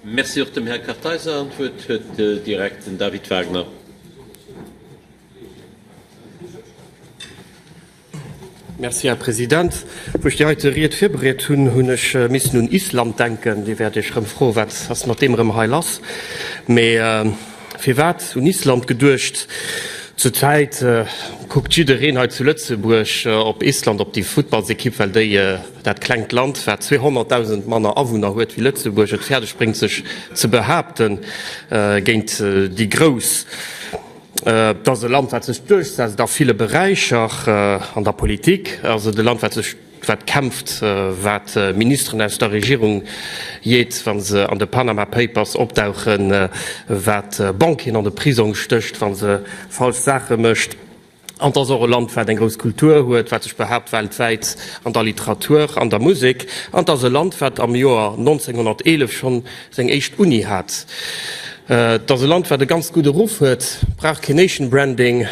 Merci och dem Här Kartheiser. An d'Wuert huet direkt den David Wagner. Merci, Här President. Wou ech déi heite Ried virbereet hunn, hunn ech missen un Island denken. Dir wäert Iech erëm froen, Wat ass mat deem erëm hei lass? Mee firwat un Island geduecht? Zur Zäit kuckt jiddereen hei zu Lëtzebuerg op Island, op déi Futtballsekipp, well déi Dat klengt Land, wat 200.000 manner Awunner huet wéi Lëtzebuerg, et fäerdeg bréngt sech ze behaapte géint déi Grouss. Et ass e Land, wat sech duerchsetzt a ville Beräicher. An der Politik ass et e Land, wat sech, wat kämpft, wat Ministeren aus der Regierung jeet, wa se an de Panama Papers opdauchen, wat Banquieren an de Prisong stécht, wa se falsch Saache mécht. An et ass och e Land, wat eng grouss Kultur huet, wat sech behaapt weltwäit an der Literatur, an der Musek. An et ass e Land, wat am Joer 1911 schonn seng éischt Uni hat. Et ass e Land, wat e ganz gudde Ruff huet, brauch kee Nation Branding.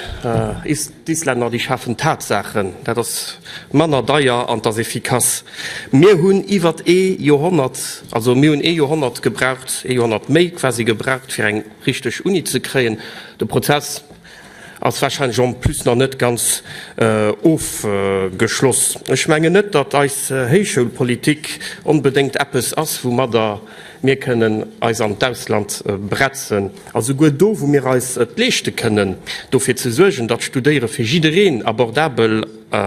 D'Islänner, déi schafen Tatsaachen, dat ass manner deier an et ass efficace. Mir hunn iwwert ee Joerhonnert, also mir hunn ee Joerhonnert gebraucht, ee Joerhonnert méi quasi gebraucht, fir eng richteg Uni ze kréien. De Prozess ass wahrscheinlech en plus nach net ganz ofgeschloss. Ech mengen net, datt eis Héichschoulpolitik onbedéngt eppes ass, woumadder mir kënnen eis an d'Ausland bretzen, a souguer do, wou mir eis et leeschte kënnen, dofir ze suergen, datt d'Studéiere fir jiddereen abordabel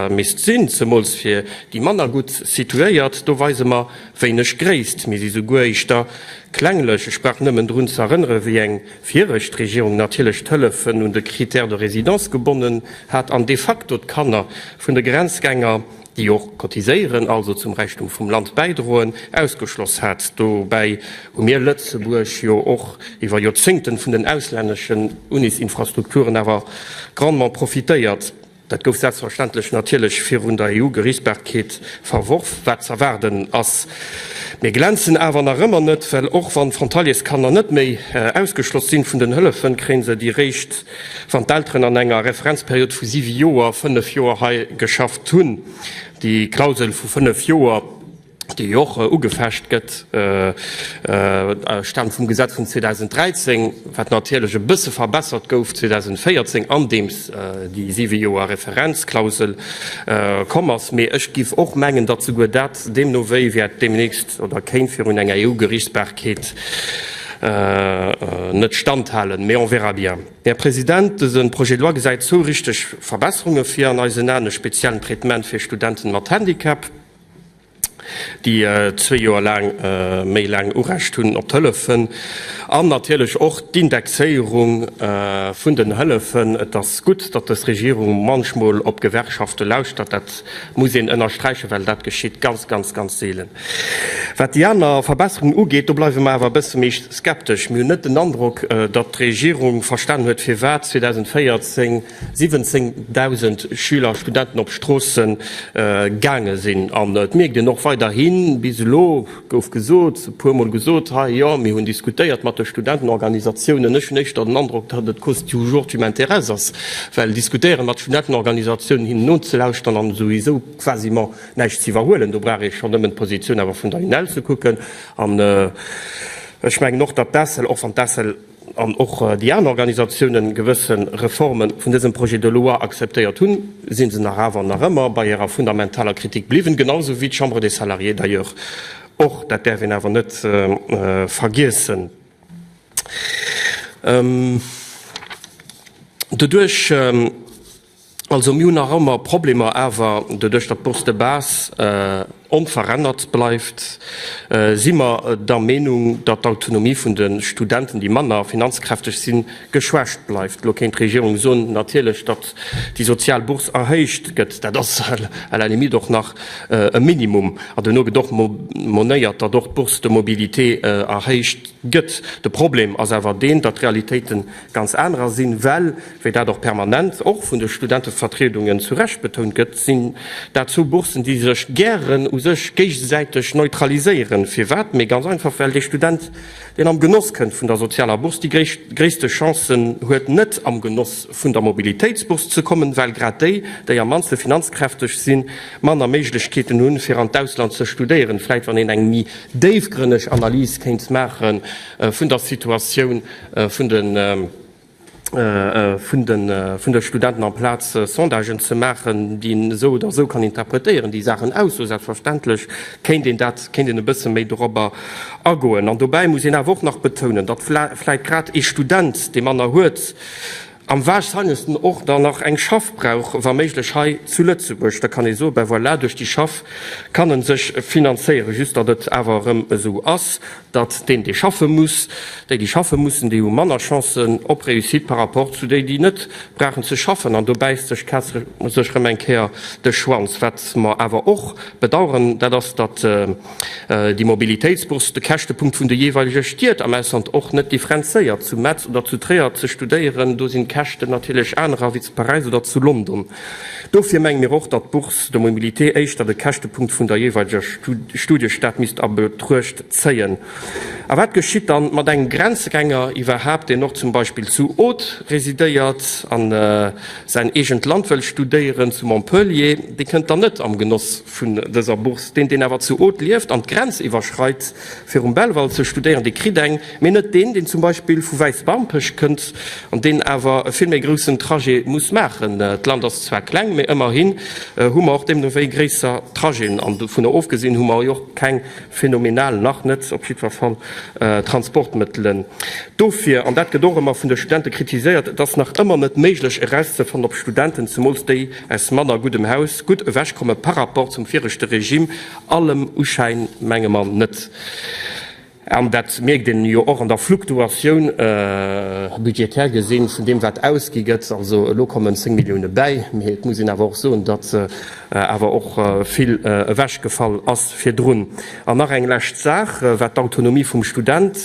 misst sinn, zemools fir déi manner gutt situéiert, do weise mer wéineg Gréisst. Mir si souguer éischter klenglech. Ech brauch nëmmen drun ze erënnere wéi eng. viregt d'Regierung natierlech d'Hëllefen un de Critère de résidence gebonnen hat an de facto d'Kanner vun de Grenzgänger, déi och cotiséieren, also zum Räichtum vum Land bäidroen, ausgeschloss hat. Dobäi hu mir Lëtzebuerg jo och iwwer Joerzéngten vun den auslänneschen Unis-Infrastrukturen awer grandement profitéiert. Dat gouf selbstverständlech natierlech virun der EU-Geriichtsbarkeet verworf, wat z'erwaarden ass. Mir glänzen awer nach ëmmer net, well och wann d'Frontaliers-Kanner net méi ausgeschloss sinn vun den Hëllefen, kréien se déi réischt, wann d'Elteren an enger Referenzperiod vu siwe Joer, fënnef Joer hei geschafft hunn. Déi Klausel vu fënnef Joer. dee jo och ugefecht gëtt, staamt vum Gesetz vun 2013, wat natierlech e bësse verbessert gouf 2014, andeems déi siwe Joer Referenzklausel komm ass. Mee ech géif och mengen, datt souguer dat deemno wéi wäert deemnächst oder kéint virun enger EU-Gerichtsbarkeet net standhalen. Mee on verra bien. Här President, dëse Projet de loi gesäit zwou richteg Verbesserunge vir an eisen Aen e speziellen Traitement fir Studenten mat Handicap, déi zwee Joer laang méi laang Urecht hunn op d'Hëllefen, an natierlech och d'Indexéierung vun den Hëllefen. Et ass gutt, datt dës Regierung munchmol op d'Gewerkschafte lauschtert, dat muss een ënnersträichen, well dat geschitt ganz, ganz, ganz seelen. Wat déi aner Verbesserungen ugeet, do bleiwe mer awer e bësse méi skeptesch. Mir hunn net den Androck, datt d'Regierung verstanen huet, firwat 2014 17.000 Schüler, Studenten op Stroosse gaange sinn. An et mierkt een och weiderhin, bis elo gouf gesot, e puermol gesot hei, jo mir hunn diskutéiert mat de Studentenorganisatiounen. Ech hunn éischter den Androck, datt et cause du jour tu m'intéresses ass, well diskutéieren mat Studentenorganisatiounen, hinnen nozelauschteren an souwisou quasiment näischt ze iwwerhuelen. Do brauch ee schonn nëmmen d'Positioun awer vun der UNEL ze kucken. An ech mengen och, datt d'ACEL, och wann d'ACEL, an och déi aner Organisatiounen gewësse Reforme vun dësem Projet de loi akzeptéiert hunn, si se nach awer nach ëmmer bei hirer fundamentaler Kritik bliwwen, genau sou wéi d'Chambre des Salariés d'ailleurs och. Dat däerf een awer net vergiessen. Doduerch, Also mir hunn nach ëmmer Problemer, awer doduerch datt d'Bourse de base onverännert bleift, si mer der Meenung, datt d'Autonomie vun de Studenten, déi manner finanzkräfteg sinn, geschwächt bleift. Elo kéint d'Regierung soen, natierlech, datt déi sozial Bourse erhéicht gëtt. Dat ass à la limite och nach e Minimum. An duerno gëtt och monéiert, datt och d'Bourse de mobilité erhéicht gëtt. De Problem ass awer deen, datt d'Realitéiten Ganz anerer sinn, well, wéi dat och permanent, och vun de Studentevertriedungen zu Recht betount gëtt, sinn dat zwou Bourssen, déi sech gären u sech géigesäiteg neutraliséieren. Firwat? Mee ganz einfach, well dee Student, deen am Genoss kënnt vun der sozialer Bourse, déi gréisste Chancen huet, net am Genoss vun der Mobilitéitsbourse ze kommen, well grad déi, déi am mannste finanzkräfteg sinn, manner Méiglechkeeten hunn, fir an d'Ausland ze studéieren. Vläit, wann een eng méi déifgrënneg Analys kéint maache vun der Situatioun, vun de Studenten amplaz Sondagen ze maachen, déi een esou oder esou kann interpretéieren, déi Saachen aus. Sou selbstverständlech kéint een dat, kéint een e bësse méi dorobber agoen. An dobäi muss een awer och nach betounen, datt vläit grad ee Student, dee manner huet, Am wahrscheinlechsten och dann nach eng Schaff brauch, wa méiglech hei zu Lëtzebuerg. Da kann ee soe, ben voilà, duerch déi Schaff kann e sech finanzéieren. Just datt et awer erëm esou ass, datt deen, dee schaffe muss, déi, déi schaffe mussen, déi hu manner Chancen op Réussite par rapport zu déi, déi net brauchen ze schaffen. An do bäisst sech d'Kaz sech erëm eng Kéier de Schwanz. Wat mer awer och bedauern, dat ass, datt, déi Mobilitéitsbourse de Käschtepunkt vun de jeeweilege Stied am Ausland och net differenzéiert. Zu Metz oder zu Tréier ze studéieren, do sinn d'Käschten natierlech anerer wéi zu Paräis oder zu London. Dofir menge mir och, datt d'Bourse de mobilité éischter de Käschtepunkt vun der jeeweileger Studiestad misst a Betruecht zéien. A wat geschitt dann mat engem Grenzgänger iwwerhaapt, deen och zum Beispill zu Aude residéiert a säin eegent Land wëll studéieren, zu Montpellier? Dee kënnt dann net am Genoss vun dëser Bourse. Deen, deen awer zu Aude lieft an d'Grenz iwwerschreit, fir um Belval ze studéieren, dee kritt eng, mee net deen, deen zum Beispill vu Wäisbarmpech kënnt an deen awer e vill méi groussen Trajet muss maachen. D'Land ass zwar kleng, mee ëmmerhi hu mer och deemno wéi gréisser Trajeten. An dovunner ofgesinn hu mer jo och keng phänomenal, nach net op jiddwer Fall, Transportmëttelen. Dofir, an dat gëtt och ëmmer vun de Studente kritiséiert, et ass nach ëmmer net méiglech erauszefannen, ob Studenten, zemools déi, aus manner guddem Haus gutt ewech komme par rapport zum viregte Regime, allem Uschäin menge mer net, an dat mierkt een jo och an der Fluktuatioun, budgetär gesinn, vun deem wat ausgi gëtt. Also elo kommen 10 Millioune bäi, mee et muss een awer och soen, datt awer och vill ewechgefall ass virdrun. An nach eng lescht Saach, wat d'Autonomie vum Student,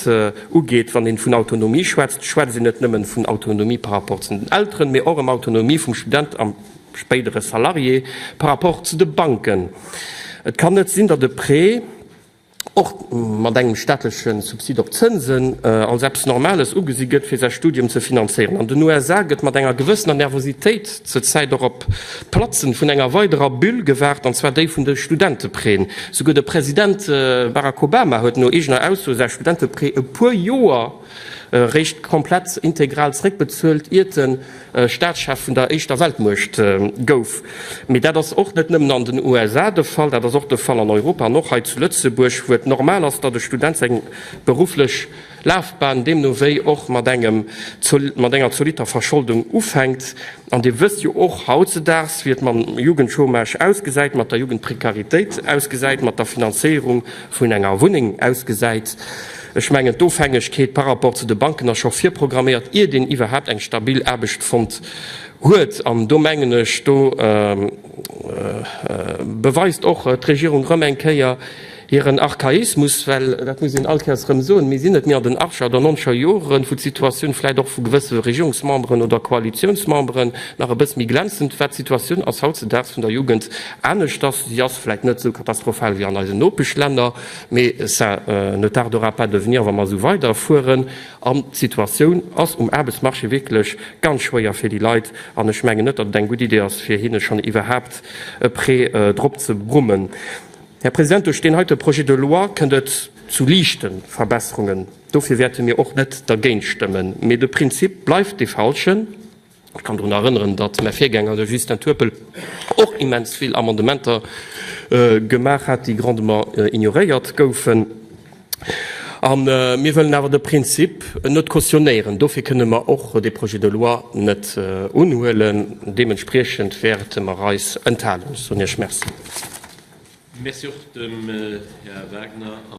Ugeet. Wann een vun Autonomie schwätzt, schwätzt een net nëmmen vun Autonomie par rapport zu den Elteren, mee och ëm Autonomie vum Student a spéidere Salarié par rapport zu de Banken. Et kann net sinn, datt e Prêt, och mat engem staatleche Subsid op Zënsen, als eppes Normales ugesi gëtt, fir säi Studium ze finanzéieren. An den USA gëtt mat enger gewëssener Nervositéit zur Zäit och op. D'Platzen vun enger weiderer Bulle gewaart, an zwar déi vun de Studenteprêtn. Souguer de President Barack Obama huet no eegener Ausso säi Studenteprêt e puer Joer réischt komplett integral zréckbezuelt, iert en Staatschef vun der éischter Weltmuecht gouf. Mee dat ass och net nëmmen an den USA de Fall, dat ass och de Fall an Europa an och hei zu Lëtzebuerg, wou et normal ass, datt e Student seng berufflech. Lafbahn deemno wéi och mat engem mat enger zolitter Verscholdung ufänkt. An Dir wësst jo och hautzedaags, wéi et mam Jugendchômage ausgesäit, mat der Jugendprekaritéit ausgesäit, mat der Finanzéierung vun enger Wunneng ausgesäit. Ech mengen, d'Ofhängegkeet par rapport zu de Banken ass scho virprogramméiert, iert een iwwerhaapt eng stabil Aarbecht fonnt huet. An do mengen ech, do beweist och d'Regierung erëm eng Kéier Hiren Archaismus, well dat muss een all Kéiers erëm soen, mir sinn net méi an den Achter oder Noncher Joren, wou d'Situatioun vläicht och vu gewësse Regierungsmemberen oder Koalitiounsmemberen nach e bësse méi glänzend war. D'Situatioun ass hautzedaags vun der Jugend aneschters. Si ass vläicht net esou katastrophal wéi an eisen Nopeschlänner, mee ça ne tardera pas de venir, wa mer esou weiderfueren. An d'Situatioun ass um Aarbechtsmarché wierklech ganz schwéier fir déi Leit an ech mengen net, datt et eng gutt Idee ass, fir hinne schonn iwwerhaapt e Prêt drop ze brummen. Här President, duerch deen heite Projet de loi kënnt et zu liichte Verbesserungen. Dofir wäerte mir och net dergéint stëmmen. Mee de Prinzip bleift dee falschen. Ech kann drun erënneren, datt mäi Virgänger, de Justin Turpel, och immens vill Amendementer gemaach hat, déi grandement ignoréiert goufen. A mir wëllen awer de Prinzip net cautionnéieren. Dofir kënnen mer och dee Projet de loi net unhuelen. Deementspriechend wäerte mer eis enthalen. Ech soen Iech Merci. Merci och dem Här Wagner.